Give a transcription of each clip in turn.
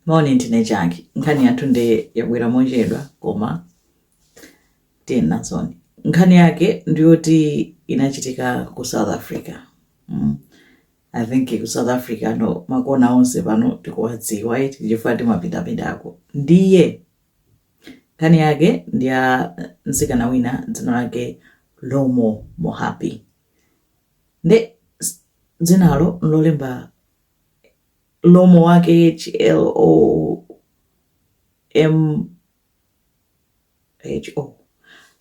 moni ndine chake nkhani yathu nde yabwera mochedwa koma tiye nazoni nkhani yake ndiyoti inachitika ku south africa mm. i think ku south africa no makona onse pano tikuwadziwa eti chifukwa timapitapitako ndiye nkhani yake ndi ya mtsikana wina dzina lake lomo mohapi nde s- dzinalo nlolemba Lomo wake HLOMPHO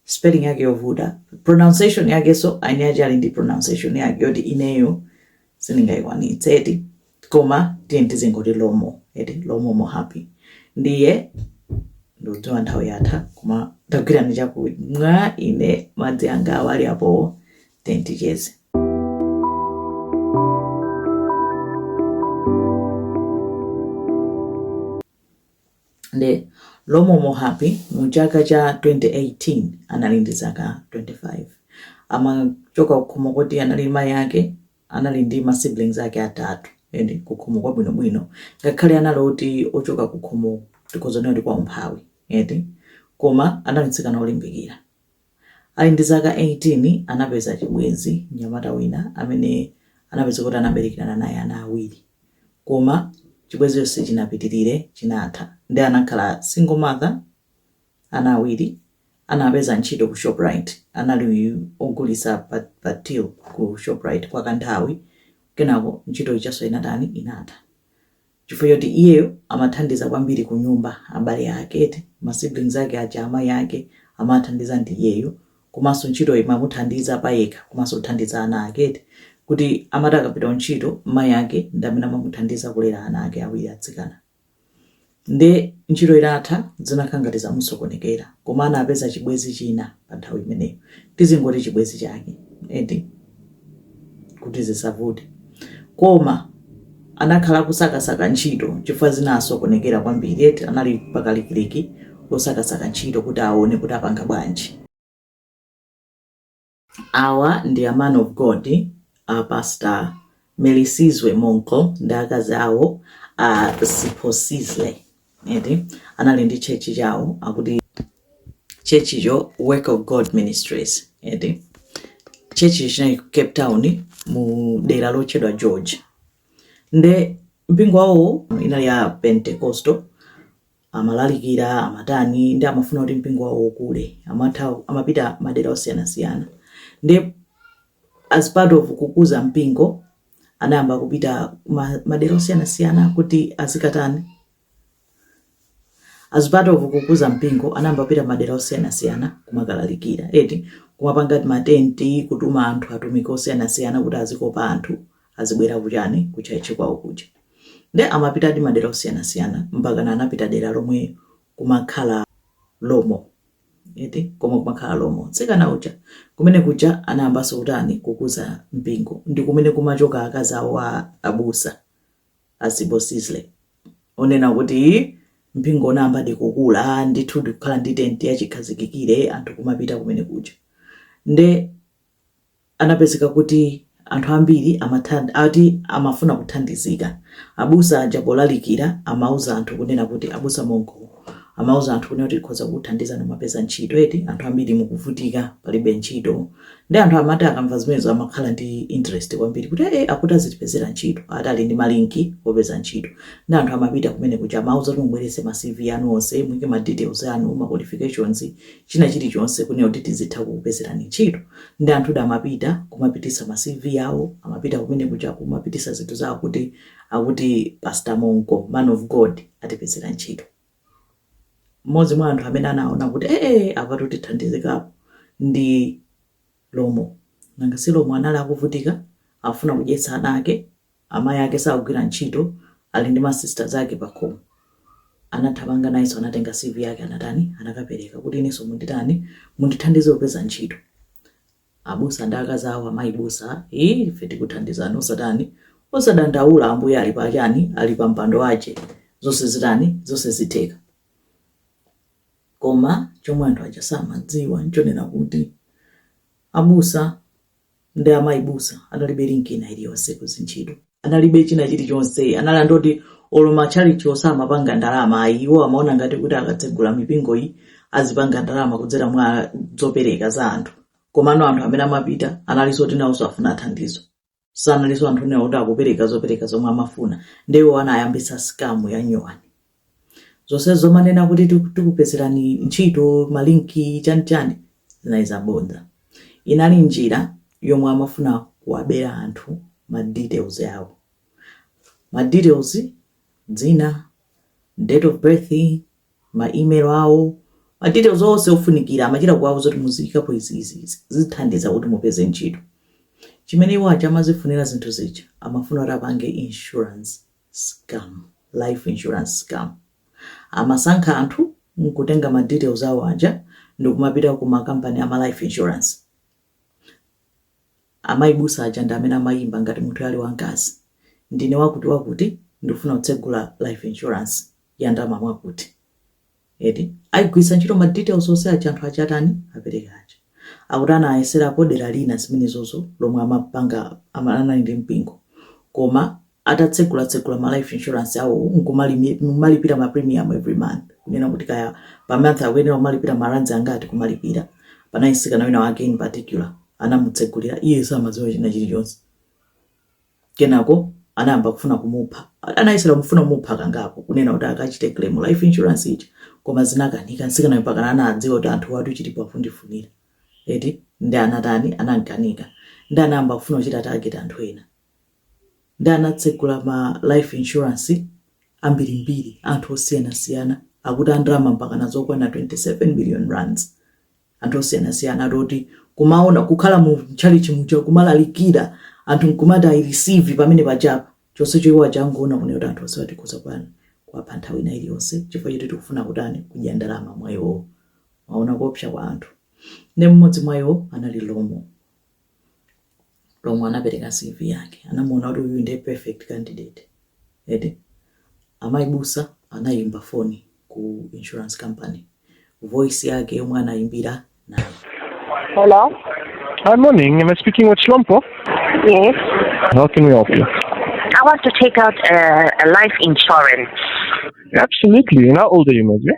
spelling yake yovuta pronunciation yakenso eni ake ali ndi pronunciation yake yoti ineyo sindingayikwanitse eti koma tiyeni tizingoti lomo eti lomo mohapi ndiye ndodziwa nthawi yatha koma tagwirani chakumwa ine madzi anga awa ali apowo Tiyeni ticheze. nde lomo mohapi mu chaka cha 2018 anali ndi zaka 25 amachoka kukhomo koti anali mayi ake anali ndi ma siblings ake atatu ende kukhomo kwabwinobwino ngakhale anali oti ochoka kukhomo tikhoza kunena kuti kwa umphawi eti koma anali mtsikana olimbikira Ali ndi zaka 18, anapeza chibwenzi, mnyamata wina amene anapezeka kuti anaberekerana naye ana awiri. Koma chibwenzicho sichinapitirire, chinatha. Ndiye anakhala single mother, ana awiri. Anapeza ntchito ku Shoprite, anali ogulitsa pa, pa till ku Shoprite kwa kanthawi. Kenako ntchito ijanso inatani, inatha. chifukwa choti iyeyo amathandiza kwambiri kunyumba, abale ake eti, ma siblings ake aja, amayi ake amawathandiza ndi iyeyu, komanso ntchitoyo imamuthandiza payekha komanso kuthandiza ana ake eti, kuti amati akapita kuntchito mayi ake ndi amene amamuthandiza kulera ana ake awiri atsikana. Nde ntchito itatha zinakhala ngati zamusokonekera, koma anapeza chibwenzi china pa nthawi imeneyo, tizingoti chibwenzi chake eti. kuti zisavute koma anakhala akusakasaka ntchito chifukwa zinasokonekera kwambiri eti anali pakalikiliki osakasaka ntchito kuti aone kuti apanga bwanji awa ndi a man of god a pastor melisizwe monqo ndi akazi awo a siphosihle eti anali ndi church chawo akuti church cho work of god ministries eti church cho chinali ku cape town mu dera lotchedwa george nde mpingo wawowo inali ya pentecostal amalalikira amatani nde amafuna kuti mpingo wawo ukule amatha amapita madera osiyanasiyana nde as part of kukuza mpingo anayamba kupita kuma madera osiyanasiyana kuti azikatani as part of kukuza mpingo anayamba kupita madera osiyanasiyana kumakalalikira eti kumapanga matenti kutuma anthu atumiki osiyanasiyana kuti azikopa anthu azibwera kuchani kuchaichi kwawo kuja nde amapitadi madera osiyanasiyana mpakana anapita dera lomwe kumakhala lomo eti koma kumakhala lomo mtsikana uja kumene kuja anayambanso kutani kukuza mpingo ndi kumene kumachoka akazi awo a abusa a Sibusisile onena kuti mpingo unayambadi kukula ndithu ndikukhala ndi tenti yachikhazikikire anthu kumapita kumene kuja nde anapezeka kuti anthu ambiri amathandi ati amafuna kuthandizika abusa aja polalikira amauza anthu kunena kuti abusa monko amauza anthu kunena kuti tikhoza kukuthandizani mwapeza ntchito eti anthu ambiri mukuvutika palibe ntchito nde anthu amati akamva zimenezo amakhala ndi interest kwambiri kuti ee akuti azitipezera ntchito ati ali ndi malinki opeza ntchito nde anthu amapita kumene kuja amawauza kuti mubwerese ma cv anu onse muike ma details anu ma qualifications china chilichonse kunena kuti tizitha kukupezerani ntchito nde anthudi amapita kumapitisa ma CV awo amapita kumene kuja kumapitisa zinthu zawo kuti akuti pastor Monko man of God atipezera ntchito. Mmodzi mwa anthu amene anaona kuti eeh apatu tithandizikapo ndi. Lomo? Nanga si Lomo anali akuvutika, akufuna kudyetsa ana ake, amayi ake sakugwira ntchito, ali ndi ma sisters ake pakhomo. Anathamanga nayenso anatenga CV yake anatani, anakapereka kuti inenso munditani, mundithandize kupeza ntchito. Abusa ndi akazi awo amayi busa, ii ife tikuthandizani osatani, osadandaula Ambuye ali pa chani, ali pa mpando wache, zonse zitani, zonse zitheka. Koma chomwe anthu aja samadziwa nchonena kuti abusa ndi amayi busa analibe link ina iliyonse ku zintchito, analibe china chilichonse, anali anthu oti olo matchalitchiwo samapanga ndalama ayi, iwo amaona ngati kuti akatsegula mipingo iyi azipanga ndalama kudzera mwa zopereka za anthu, komano anthu amene amapita analinso oti nawonso afuna athandizidwe. sanaliso anthu onena kuti akupereka zopereka zomwe amafuna nde iwo anayambitsa scam ya nyuwani zonse zomanena kuti tiku- tikupezerani ntchito malinki chanichani zinali zabodza inali njira yomwe amafuna kuwabera anthu ma details awo ma details dzina date of birth, ma email awo, ma details onse ofunikira, amachita kuwauza kuti muziikapo izi, izi, izi, zithandiza kuti mupeze ntchito. Chimene iwo aja amazifunira zinthu zija, amafuna kuti apange insurance scam, life insurance scam. Amasankha anthu n'kutenga ma details awo aja ndikumapita ku makampani a ma life insurance. Amayi abusa aja ndi amene amayimba ngati munthuyo ali wamkazi. Ndine wakuti wakuti ndikufuna kutsegula life insurance ya ndalama mwakuti. Eti akugwiritsa ntchito ma details onse aja anthu aja atani apereka aja. Akuti anayeserapo dera lina zimenezozo lomwe amapanga ama, anali ndi mpingo koma atatsegulatsegula ma life insurance awowo nkumalipira ma premium every month kunena kuti kaya pa month akuyenera kumalipira ma rands angati kumalipira. Panali mtsikana wina wake in particular anamutsegulira, iye samadziwa china chilichonse, kenako anayamba kufuna kumupha. Anayesera kufuna kumupha kangapo kunena kuti akachite claim life insurance ija koma zinakanika. Mtsikanayo mpakana anadziwa kuti anthuwatu chilipo akundifunira eti, nde anatani, anamkanika nde anayamba kufuna kuchita target anthu ena Nde anatsegula ma life insurance ambirimbiri anthu osiyanasiyana akuti ndalama mpakana zokwana 27 million rands anthu osiyanasiyana ndiye kumaona kukhala mu chalichi muja kumalalikira anthu nkumati i receive pamene apa chonsecho iwo aja akungoona kunena kuti anthu onsewa tikhoza kutani kuwapha nthawi ina iliyonse chifukwa choti tikufuna kutani kudya ndalama mwa iwowo mwaona kuopsa kwa anthu nde mmodzi mwa iwo anali lomo lomwe anapereka CV yake anamuona kuti uyu ndiye perfect candidate eti amayi busa anayimba foni ku insurance company voice yake yomwe anayimbira nayo Hello? Hi, morning. Am I speaking with Shlomo? Yes. How can we help you? I want to take out a, a life insurance. Absolutely. And how old are you, my dear?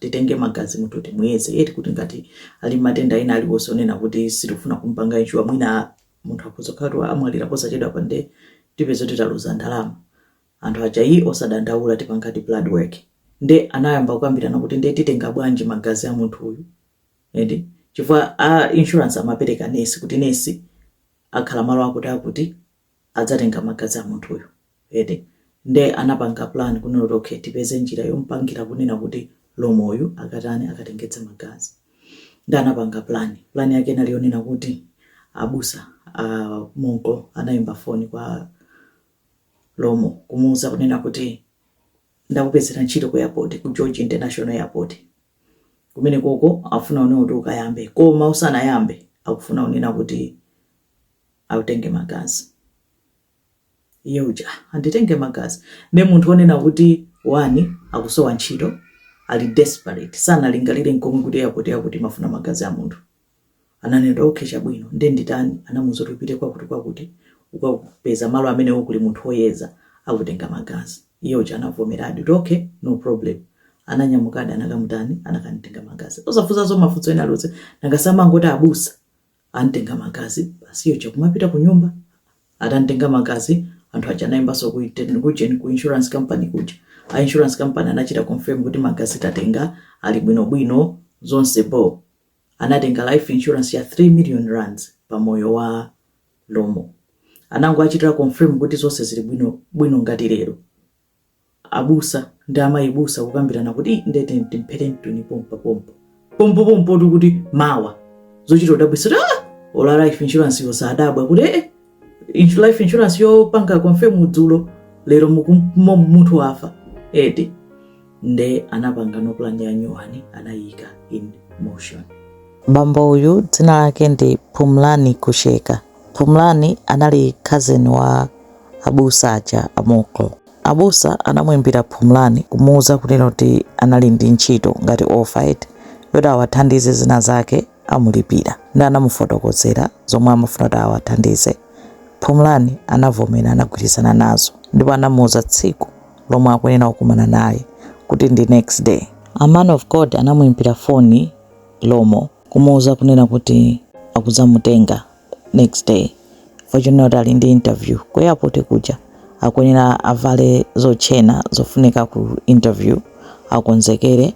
titenge magazi munthu timuyeze eti kuti ngati ali ndi matenda ena aliwonse onena kuti sitikufuna kumupanga insure mwina munthu akhoza kukhala kuti amwalira posachedwapa nde tipeza kuti taluza ndalama anthu aja ayi osadandaula tipangadi blood work nde anayamba kukambirana kuti nde titenga bwanji magazi a munthu uyu eti chifukwa a insurance amapereka nesi kuti nesi akhala malo akuti akuti adzatenga magazi amunthuyo eti nde anapanga plan kunena kuti okay tipeze njira yompangira kunena kuti lomoyu akatani akatengetse magazi nde anapanga plan plan yake inali yonena kuti abusa a monko anayimba foni kwa lomo kumuuza kunena kuti ndakupezera ntchito ku airport ku george international airport kumene koko akufuna kunena kuti ukayambe koma usanayambe akufuna kunena kuti autenge magazi iye uja "Ah, anditenge magazi nde munthu onena kuti akusowa ntchito ali desperate sanalingalire nkomwe kuti yakuti yakuti amafuna magazi a munthu ananena okay chabwino nde atani anamuuza kuti upite kwakuti kwakuti ukapeza malo amene kuli munthu woyeza akutenga magazi iye uja anavomeradi kuti okay no problem ananyamukadi anakamutani anakamtenga magazi osafunsanso mafunso ena aliwonse nanga amangoti abusa Amtenga magazi, basi iwo aja kumapita kunyumba. Atamtenga magazi, anthu aja anayimbanso ku iten- ku ujeni ku insurance company kuja. A insurance company anachita confirm kuti magazi tatenga ali bwinobwino zonse bho. Anatenga life insurance ya 3 million rands pa moyo wa Lomo. Anangowachitira confirm kuti zonse zili bwino bwino ngati lero. abusa ndi amayi busa kukambirana kuti "Ih, ndete ndimphere mtuni pompa pompo pompopompotu kuti mawa zochita kudabwisa kuti ah ola life insurance yo osadabwa kuti eh insu- life insurance yopanga confirm dzulo lero mukum- mo- munthu wafa eti nde anapanganso plan ya nyuwani anayika in motion bambo uyu dzina lake ndi Phumlani Qhusheka Phumlani anali cousin wa abusa aja a Monqo. Abusa anamuimbira Phumlani kumuuza kunena kuti anali ndi ntchito ngati offer eti yoti awathandize zina zake amulipira nde anamufotokozera zomwe amafuna kuti awathandize. Phumlani anavomera anagwirizana nazo ndipo anamuuza tsiku lomwe akuyenera kukumana naye kuti ndi next day. A man of God anamuimbira foni Hlompho kumuuza kunena kuti akudzamutenga next day fortunate kuti ali ndi interview ku airport kuja akuyenera avale zotchena zofunika ku interview akonzekere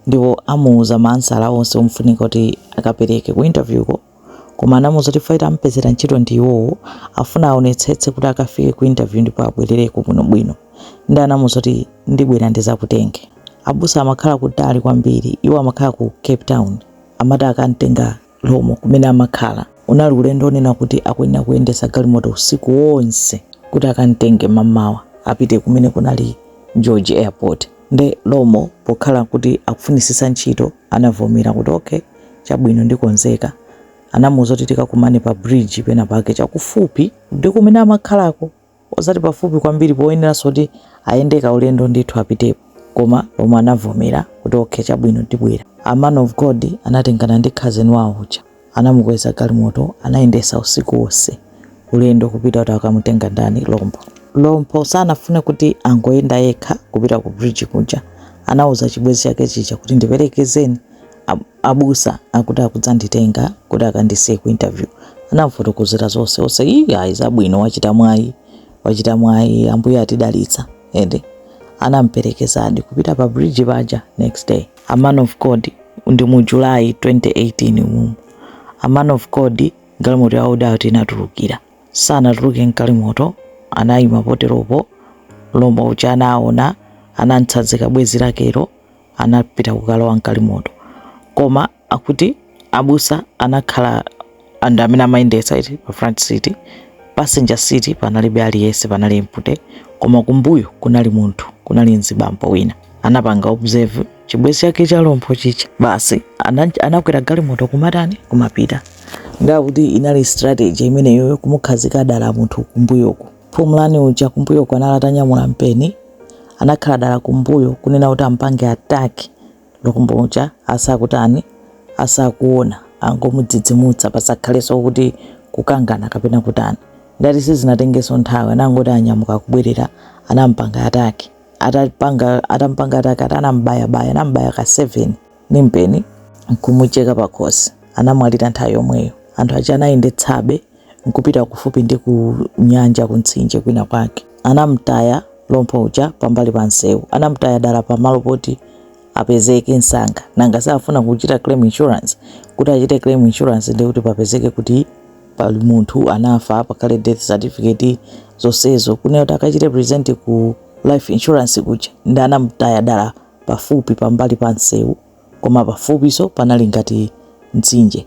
ndipo amuuza maansala onse ofunika kuti akapereke ku interviewko koma anamuuza kuti faita ampezera ntchito ndi iwowo afuna aonetsetse kuti akafike ku interview ndipo abwerereko bwinobwino nde anamuuza kuti ndibwera ndizakutenge abusa amakhala kutali kwambiri iwo amakhala ku cape town amakamtenga Hlompho, kumene amakhala. Unali ulendo wonena kuti akuyenera kuyendetsa galimoto usiku wonse kuti akam'tenge mam'mawa apite kumene kunali George Airport. Nde Hlompho pokhala kuti akufunitsitsa ntchito anavomera kuti, Ok, chabwino ndikonzeka. Anamuuza kuti tikakumane pa bridge penapake chakufupi ndi kumene amakhalako. osati pafupi kwambiri poyeneranso kuti ayende kaulendo ndithu apitepo koma Hlompho anavomera kuti okay chabwino ndibwera a man of God anatengana ndi cousin wawo uja anamukweza galimoto anayendesa usiku wonse ulendo kupita kuti akamutenga ndani Hlompho Hlompho sanafune kuti angoyenda yekha kupita ku bridge kuja anauza chibwezi chake chija kuti ndiperekezeni abusa akuti akudzanditenga kuti akandisiye ku interview anamfotokozera zonse zonse ii ayi zabwino wachita mwayi wachita mwayi ambuye atidalitsa ende anamperekezadi kupita pa bridge paja next day a man of god ndi mu july 2018 mumu a man of god galimoto yawo dati inatulukira sanatuluke mgalimoto anayima poteropo Hlompho uja anaona anamtsazika bwezi lakelo anapita kukalowa mgalimoto koma akuti abusa anakhala and amene amayendetsa eti pa front seat passenger seat panalibe aliyese panali empty koma kumbuyo kunali munthu kunali mzibambo wina anapanga observe chibwezi chake cha Hlompho chija basi ana- anakwera galimoto kumatani kumapita nde akuti inali strategy imeneyoyo kumukhazika dala munthu kumbuyoku Phumulani uja kumbuyoko anali atanyamula mpeni anakhala dala kumbuyo kunena kuti ampange attack Lompo uja asakutani asakuona angomudzidzimutsa pasakhalenso kuti kukangana kapena kutani ndati sizinatengenso nthawi anangoti anyamuka kubwerera anampanga attack atampanga attack ati anambayabaya anambaya ka 7 ndi mpeni n'kumucheka pakhosi. Anamwalira nthawi yomweyo. Anthu aja anayendetsabe n'kupita kufupi ndi kunyanja, kumtsinje kwina kwake. Anam'taya Lompo uja pambali pa msewu. Anam'taya dala pamalo poti apezeke msanga. Nanga safuna kuchita claim insurance? Kuti achite claim insurance ndiye kuti papezeke kuti pali munthu anafa, pakhale death certificate, zonsezo. Kunena kuti akachite present ku life insurance kuja ndiye anam'taya dala pafupi pambali pa msewu koma pafupiso panali ngati mtsinje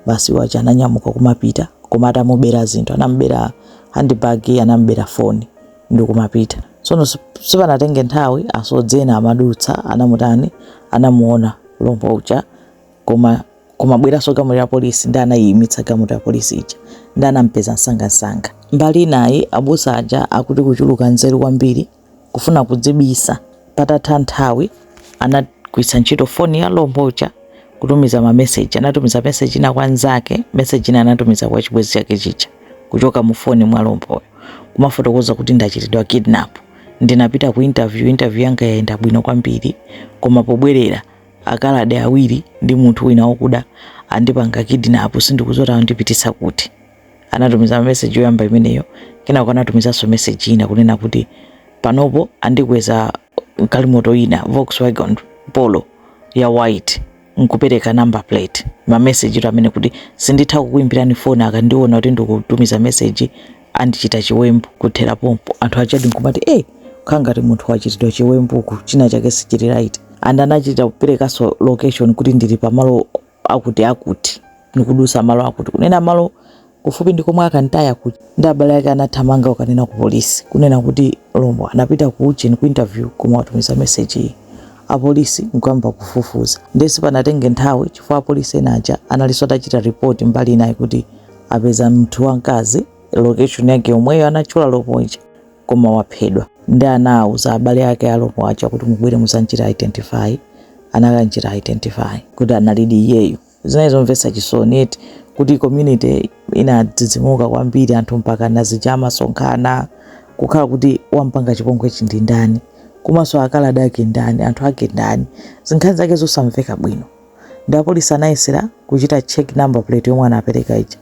basi iwo aja ananyamuka kumapita koma atamubera zinthu anamubera handbag anamubera foni ndikumapita tsono sipanatenge nthawi asodzi ena amadutsa anamutani anamuona Lompo uja koma kumabweranso galimoto ya polisi ndi anayimitsa galimoto ya polisi ija ndi anampeza msangamsanga mbali inayi abusa aja akuti kuchuluka nzeru kwambiri kufuna kudzibisa. Patatha nthawi, anagwiritsa ntchito foni ya Lompo uja kutumiza mameseji. Anatumiza meseji ina kwa nzake, meseji ina anatumiza kwa chibwenzi chake chija kuchoka mu foni mwa Lompoyo, kumafotokoza kuti ndachitidwa kidnap, ndinapita ku interview, interview yanga yayenda bwino kwambiri, koma pobwerera akaladi awiri ndi munthu wina wakuda andipanga kidnap, sindikudziwa kuti andipititsa kuti. Anatumiza message yoyamba imeneyo, kenako anatumizanso message ina kunena kuti panopo andikweza galimoto ina Volkswagen Polo ya white nkupereka number plate. Ma message to amene kuti sinditha kukuimbirani phone akandiona kuti ndikutumiza message andichita chiwembu kuthera pompo. Anthu ajadi nkumati eh, kukhala ngati munthu wachitidwa chiwembu china chake sichili right. And anachita kuperekanso location kuti ndili pamalo akuti akuti ndikudusa malo akuti kunena malo kufupi ndi komwe akamtaya kuja ndi abale ake anathamanga kukanena ku polisi kunena kuti Lompo anapita ku ujeni ku interview koma watumiza message iyi apolisi nkuyamba kufufuza ndiye sipanatenge nthawi chifukwa apolisi ena aja analinso atachita report mbali inayi kuti apeza munthu wamkazi location yake yomweyo anatchula Lompo uja koma waphedwa ndi anauza abale ake a Lompo aja kuti mubwere muzanchita identify anakanchita identify kuti analidi iyeyo zinali zomvetsa chisoni eti kuti community inadzidzimuka kwambiri anthu mpaka nazija amasonkhana kukhala kuti wampanga chipongwechi ndi ndani komanso akaladi ake ndani anthu ake ndani zinkhani zake zosamveka bwino ndi apolisi anayesera kuchita check number plate yomwe anapereka ija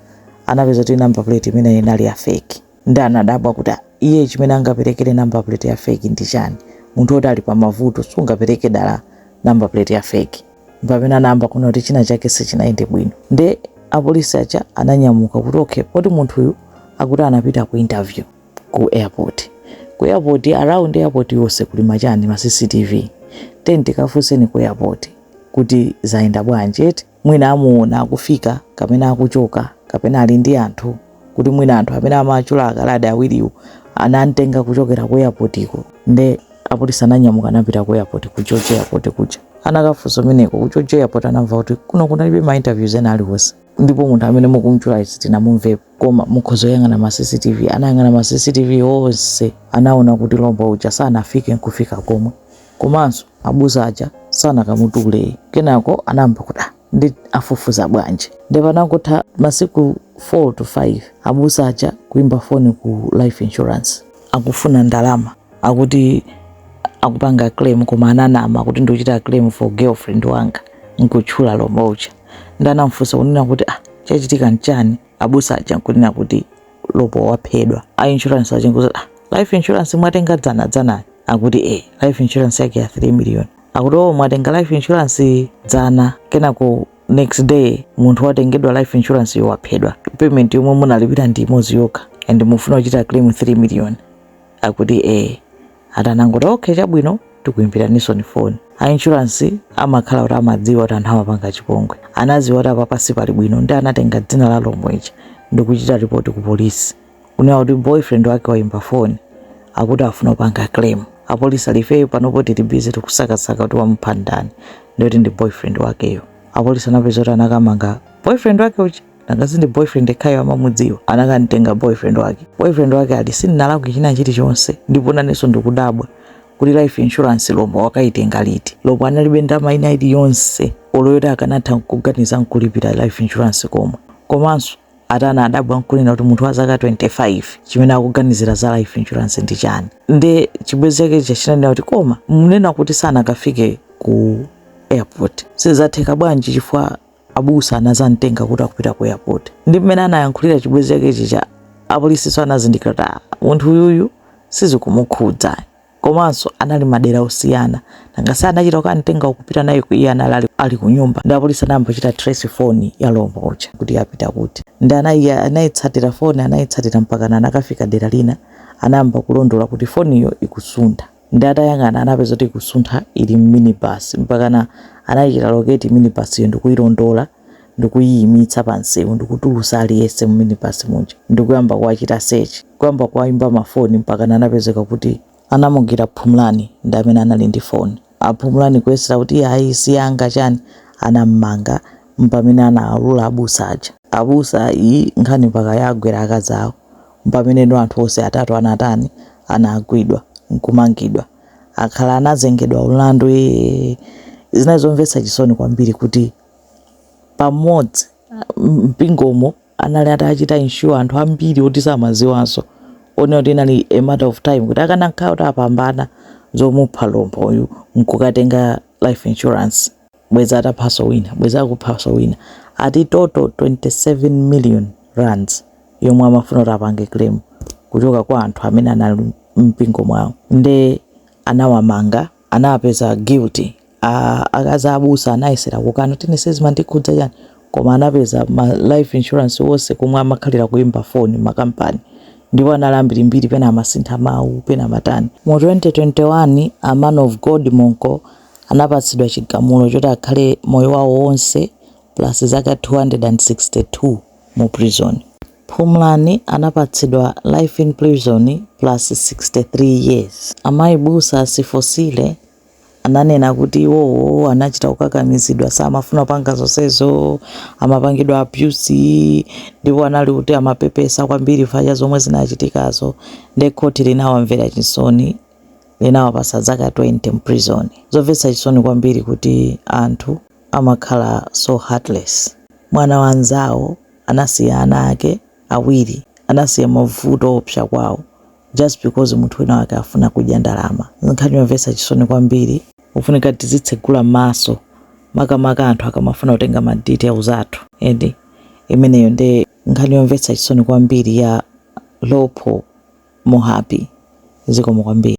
anapeza kuti number plate imene inali ya fake nde anadabwa kuti ah, iye chimene angaperekere number plate ya fake ndi chani munthu woti ali pamavuto sungapereke dala number plate ya fake mpamene anayamba kuona kuti china chake sichinayende bwino nde apolisi aja ananyamuka kuti okay poti munthuyu akuti anapita ku interview ku airport ku airport around airport yonse kuli machani ma cctv tiyeni tikafunseni ku airport kuti zayenda bwanji eti mwina amuona akufika kapena akuchoka kapena ali ndi anthu kuti mwina anthu amene amachula akaladi awiriwo anamtenga kuchokera ku airport iko nde apolisi ananyamuka anapita ku airport ku George airport kuja anakafunsa kumeneko ku George airport anamva kuti kuno kunalibe ma interviews ena aliwonse ndipo munthu amene mukumchula sitinamumvepo koma mukhoza kuyang'ana ma cctv anayang'ana ma cctv onse anaona kuti Hlompho uja sanafike nkufika komwe komanso abusa aja sanakamutule kenako anayamba kuti "Ah, ndi afufuza bwanji nde panangotha masiku 4 to 5 abusa aja kuimba foni ku life insurance akufuna ndalama akuti akupanga claim koma ananama kuti ndikuchita claim for girlfriend wanga nkutchula Hlompho uja ndi anamfunsa kunena kuti ah chachitika nchani abusa aja nkunena kuti Hlompho waphedwa a insurance aja nkuti ah life insurance mwatenga dzana dzana akuti eh life insurance yake ya 3 million akuti oh mwatenga life insurance dzana kenako next day munthu watengedwa life insurance yo waphedwa payment yomwe munalipira ndi imodzi yokha and mufuna kuchita claim 3 million akuti ee ati anangoti okay chabwino tikuimbiranisoni foni a insurance amakhala kuti amadziwa kuti anthu amapanga chipongwe anaziwa kuti apapa sipali bwino ndi anatenga dzina la Hlompho uja ndikuchita ripoti ku polisi kunena kuti boyfriend wake waimba foni akuti afuna kupanga claim apolisi ali ifeyo panopo tili busy tikusakasaka kuti wamupha ndani ndikuti ndi boyfriend wakeyo apolisi anapeza kuti anakamanga boyfriend wake uja nanga si ndi boyfriend yekhayo amamudziwa anakamtenga boyfriend wake boyfriend wake ali sindinalakwe china chilichonse ndipo nanenso ndikudabwa kuti life insurance Hlompho wakaitenga liti Hlompho analibe ndalama ina iliyonse olo yoti akanatha kuganiza nkulipira life insurance komwe komanso atana adabwa nkunena kuti munthu wa zaka 25 chimene akuganizira za life insurance ndi chani nde chibwenzi chake chija chinanena kuti koma munena kuti sanakafike ku airport zatheka bwanji chifukwa abusa anazamtenga kuti akupita ku airport ndi mmene anayankhulira chibwenzi chake chija apolisinso anazindikira kuti "Ah, munthu uyuyu sizikumukhudza komanso anali madera osiyana nanga si anachita kukamtenga nkupita naye ku iye anali ali- ali ku nyumba ndi apolisi anayamba kuchita trace foni ya Hlompho uja kuti yapita kuti ndi anayi- anayitsatira foni anayitsatira mpakana anakafika dera lina anayamba kulondola kuti foniyo ikusuntha Nde atayang'ana anapeza kuti ikusuntha ili mminibus mpakana anaichita locate minibus yo ndikuilondola ndikuiyimitsa pa msewu ndikutulusa aliyense mu minibus muja ndikuyamba kuwachita search kuyamba kuwaimba ma phone mpakana anapezeka kuti anamugwira Phumlani ndi amene anali ndi phone. A Phumlani kuyesera kuti ayi si yanga chani anammanga mpamene anawaulula abusa aja. Abusa ayi nkhani mpaka yawagwera akazi awo. Mpameneno anthu onse atatu anatani anagwidwa nkumangidwa akhala anazengedwa mlandu eeh zinali zomvetsa chisoni kwambiri kuti pamodzi mpingomo anali atachita insure anthu ambiri oti samaziwanso onena kuti inali a matter of time kuti akanakhala kuti apambana zomupha Hlompho yu nkukatenga life insurance bwezi ataphaso wina bwezi akuphaso wina ati total 27 million rands yomwe amafuna kuti apange claim kuchoka kwa anthu amene anali mpingo mwawo nde anawamanga anawapeza guilty akazi abusa anayesera kukana kuti ine sizimandikhudza chani koma anapeza ma life insurance wonse komwe amakhalira kuimba foni makampani ndipo anali ambirimbiri pena amasintha mawu pena amatani mu 2021 a man of god Monqo anapatsidwa chigamulo choti akhale moyo wawo wonse plus zaka 262 mu prison. Phumlani anapatsidwa life in prison plus 63 years. Amayi busa a Siphosihle ananena kuti iwowo anachita kukakamizidwa samafuna kupanga zonsezo, amapangidwa abuse ndipo anali kuti amapepesa kwambiri chifukwa cha zomwe zinachitikazo nde khoti linawamvera chisoni. linawapatsa zaka 20 mprison. Zomvetsa chisoni kwambiri kuti anthu amakhala so heartless. Mwana wa anzawo anasiya ana ake awiri anasiya mavuto oopsa kwawo just because munthu wina wake afuna kudya ndalama. Nkhani yomvetsa chisoni kwambiri. Kufunika tizitsegula maso makamaka anthu akamafuna kutenga ma details athu eti. Imeneyo nde nkhani yomvetsa chisoni kwambiri ya Hlompho Mohapi zikomo kwambiri